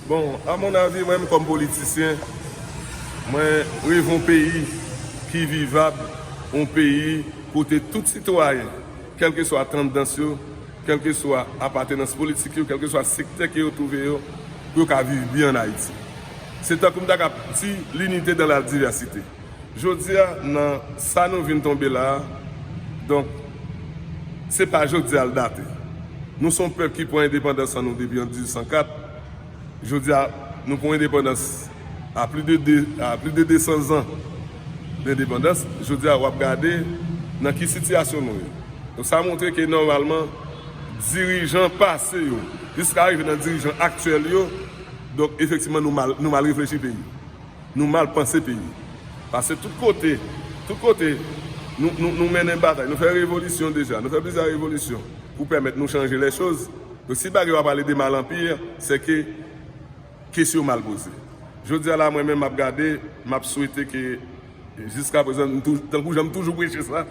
Bon, a mon avis, mwen menm kòm politisyen, mwen reve yon peyi ki vivab, yon peyi kote tout sitwayen, kèlkeswa tandans yo, kèlkeswa apatenans politik yo, kèlkeswa sektè ke yo twouve yo, pou yo ka viv byen an Ayiti. Se tankou m ta kab di, l'unité dans la diversité. Jodi a nan sa nou vin tonbe la a, donk se pa jodi a l date. Nou se yon pèp ki pran endepandans an nou depi an 1804. Jodi a nou pran endepandans a pli de 2, a pli de 200 zan dendepandans. Jodi a w ap gade nan ki sitiyasyon nou ye. Donk sa montre ke nòmalman dirijan pase yo jiska rive nan dirijan aktyèl yo, donk efektivman nou mal, nou mal reflechi peyi. Nou mal panse peyi. Pase tout kote. Tout kote. Nou, nou mennen batay. Nou fè revolisyon deja. Nou fè plizyè revolisyon pou pèmèt nou chanje lè choz. Donk si bagay yo ap ale de mal an pi, se ke kesy yo mal poze. Jodi a la mwen menm m ap gade, m ap swete ke jiska prezan, tankou jan m toujou preche sa,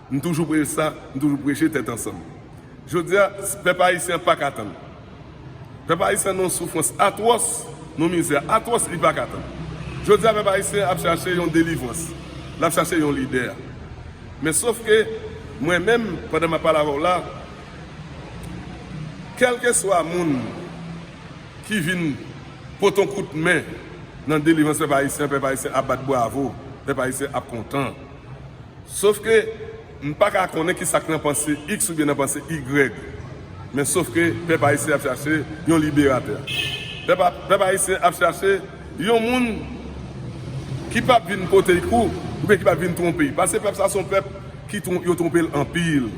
M toujou prel sa, m toujou preche tèt ansanm. Jodi a, pèp ayisyen an paka tann. Pèp ayisyen an nan yon soufrans atwòs, nan yon mizè atwòs li paka tann. Jodi a pèp ayisyen an ap chache yon delivrans, l ap chache yon lidè. Men sof ke mwen menm pandan m ap pale avè w la, kèlkeswa moun ki vin pote yon kout men nan delivrans pèp ayisyen an, pèp ayisyen ap bat bravo, pèp ayisyen ap kontan. Sof ke m pa ka konnen ki sa k nan panse iks oubyen nan panse igrèg. Men sof ke pèp ayisyen ap chache yon liberatè. Pèp ayisyen ap chache yon moun ki p ap vin pote y kou oubyen ki p ap vin twonpe y. Pase pèp sa se yon pèp ki yo twonpe l anpil.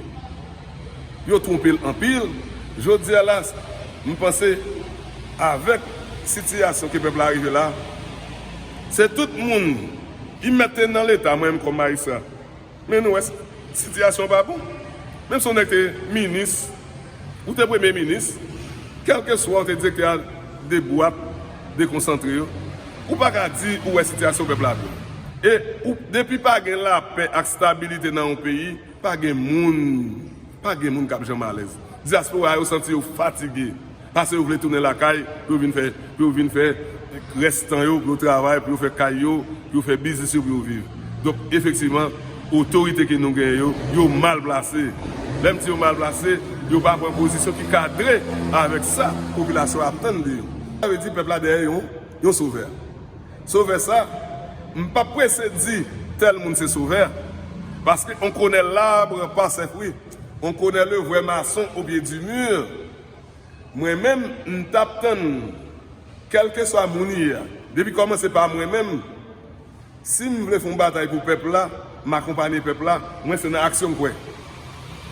Yo twonpe l anpil. Jodi a la, m panse avèk sitiyasyon ke pèp la rive la, se tout moun ki mèt te nan leta, mwen menm kòm majistra, men nou wè sitiyasyon an pa bon. Menm si yon nèg te minis, ou te premye minis, kèlkeswa ou te direktè a de bwap, de konsantre yo, ou pa ka di ou wè sitiyasyon pèp la bon. E ou depi pa gen lapè ak stabilite nan yon peyi, Pa gen moun Pa gen moun k ap janm alèz. Dyaspora yo santi yo fatige pase yo vle tounen lakay pou yo vin fè pou yo vin fè rès tan yo pou yo travay pou yo fè kay yo pou yo fè biznis yo pou yo viv donk efektivman otorite ke nou genyen yo yo mal plase lè m di yo mal plase yo pa pran pozisyon ki kadre avèk sa popilasyon an ap tann de yo sa vle di pèp la dèyè yon yon sovè. Sovè sa, m pap prese di tèl moun se sovè, paske on konè l'arbre par ses fruits, on konè le vrai maçon au pied du mur, mwen menm m tap tann kèlkeswa moun li ye, depi kòmanse pa mwen menm, si m vle fon batay pou pèp la, m akonpanye pèp la, mwen se nan aksyon m kwè.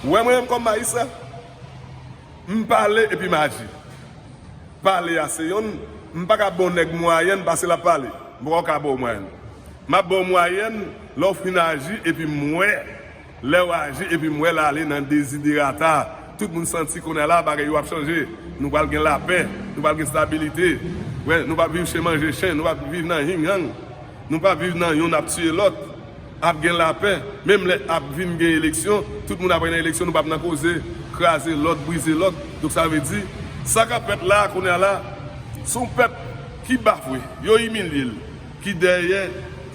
Ou wè mwen menm kòm Maïssa? M pale epi m aji. Pale a se yonn, m pa ka ba w nèg mwayèn pase l ap pale. M pa ka ba w mwayèn. M ap ba w mwayèn lè w fin aji epi m wè lè w aji epi m wè l ale nan deziderata. Tout moun santi kounye a la bagay yo ap chanje. Nou pral gen lapè. Nou pral gen stabilite. Nou p ap viv chen manje chen. Nou p ap viv nan ying yang. Nou p ap viv nan yonn ap tiye lòt. Ap gen lapè, menm lè ap vin gen eleksyon, tout moun ap al nan eleksyon, nou pap nan koze kraze lòt, brize lòt. Donk sa vle di, sa kap fèt la a kounye a la, se yon pèp ki bafwe, yo imilye l, ki dèyè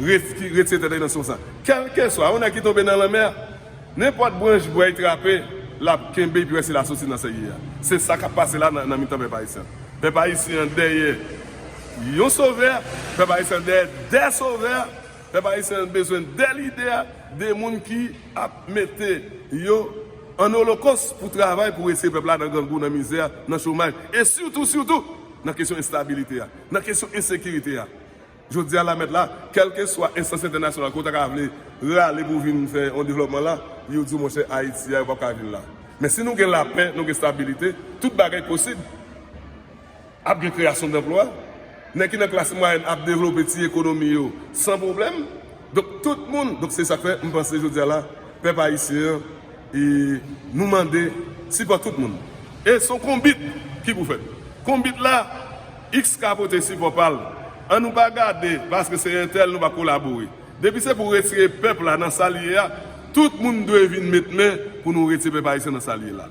ret, ki retire tèt li nan sitiyasyon sa a. Kèlkeswa, yon nèg ki tonbe nan lanmè a, nenpòt branch bwa li trape, l ap kenbe epi wè si l a soti nan sa l ye a. Se sa kap pase la a nan mitan pèp ayisyen an. Pèp ayisyen an dèyè yon sovè, pèp ayisyen an dèyè de sovè. Pèp ayisyen an bezwen de lidè, de moun ki ap mete yo an olokos pou travay pou retire pèp la nan grangou, nan mizè, nan chomaj e sitou, sitou nan kesyon enstabilite a, nan kesyon ensekirite a. Jodi a la mèt la, kèlkeswa enstans entènasyonal ke w ta ka vle rale pou vin fè yon devlòpman la, yo di w monchè Ayiti a yo pap ka vin la. Men si nou gen lapè, nou gen stabilite, tout bagay posib. Ap gen kreyasyon danplwa. Nèg ki nan klas mwayèn ap devlope ti ekonomi yo san pwoblèm. Donk tout moun, donk se sa k fè m panse jodi a la pèp ayisyen an e nou mande sipò tout moun. E s on konbit ki pou fèt. Konbit la, iks ka pote sipò pa l. An nou pa gade paske se entèl nou pa kolabore. Depi se pou retire pèp la nan sa l ye a, tout moun dwe vin met men pou nou retire pèp ayisyen nan sa l ye la.